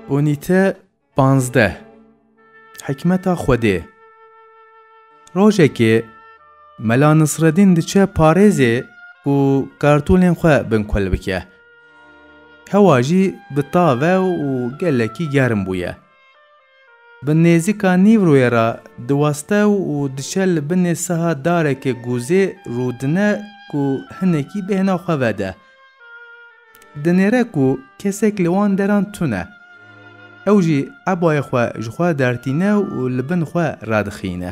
Unîte panzdeh Hikmeta Xwedê Rojekê Mela Nisredîn diçe parêzê û kartûlên xwe binkulbike. Hewa jî bi tav e û gelekî germ bûye. Bi nêzîka nîvrûyê re diweste û diçe li binê siha darekê gûzê rûdine ku hinekî bêhna xwe vede. Dinêre ku kesek li wan deran tune. Ew jî ebayê xwe ji xwe dertîne û li bin xwe radixîne.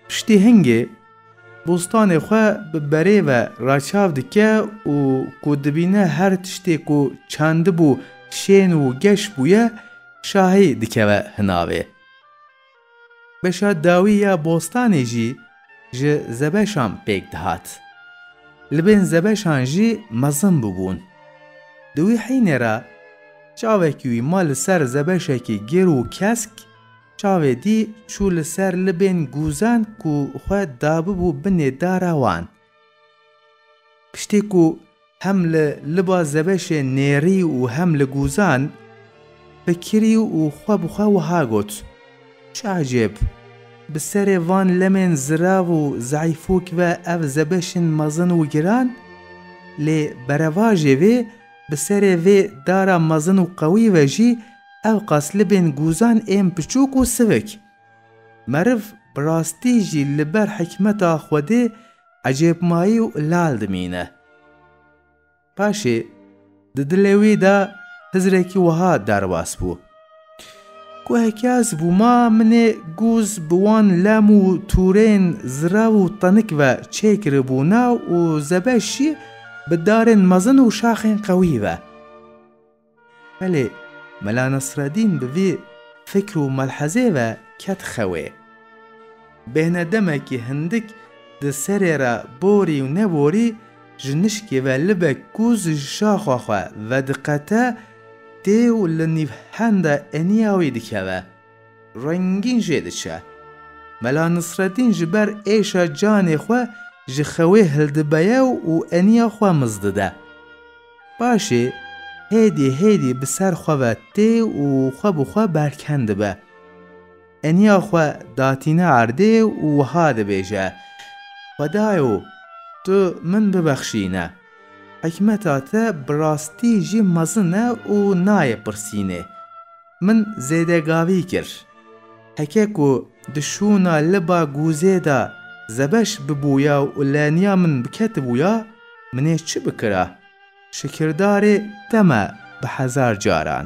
Piştî hingê bostanê xwe bi berê ve raçav dike û ku dibîne her tiştê ku çandibû şên û geş bûye şahî dikeve hinavê. Beşa dawî ya bostanê jî ji zebeşan pêk dihat. Li bên zebeşan jî mezin bûbûn. Di wî hînê re çavekî wî ma li ser zebeşekî gêr û kesk, Çavê dî çû li ser libên gûzan ku xwe dabibû binê dara wan. Piştî ku hem li liba zebeşê nêrî û hem li gûzan, fikirî û xwe bi xwe wiha got, Çi ecêb, bi serê van lemên zirav û zeîfûk ve ev zebeşên mezin û giran? Lê berevajê vê Bi serê vê dara mezin û qewî ve jî ewqas li bên guzan ên piçûk û sivik. Meriv bi rastî jî li ber hikmeta Xwedê ecêbmayî û lal dimîne. Paşê di dilê wî de hizrekî wiha derbas bû. Ku hekya ez bû ma minê gûz bi wan lem û tûrên zirav û tenik ve çê kiribû na û zebe jî bi darên mezin û şaxên qewî ve. Belê Mela Nesredîn bi vî fikr û melhezê ve ket xewê. Bêhna demekî hindik di serê re borî û neborî ji nişkê ve libek gûz ji şaxa xwe vediqete, tê û li nîvhenda eniya wî dikeve. Rengîn jê diçe. Mela Nisretîn ji ber êşa canê xwe ji xewê hildibeye û eniya xwe miz dide. Paşê hêdî hêdî bi ser xwe ve tê û xwe bi xwe berken dibe. Eniya xwe datîne erdê û wiha dibêje, Xwedayo tu min bibexşîne. Hikmeta te bi rastî jî mezin e û nayê pirsînê. Min zêdegavî kir. Heke ku di şûna liba gûzê de zebeş bibûya û leniya min biketibûya, min ê çi bikira? Şikirdarê te me bi hezar caran.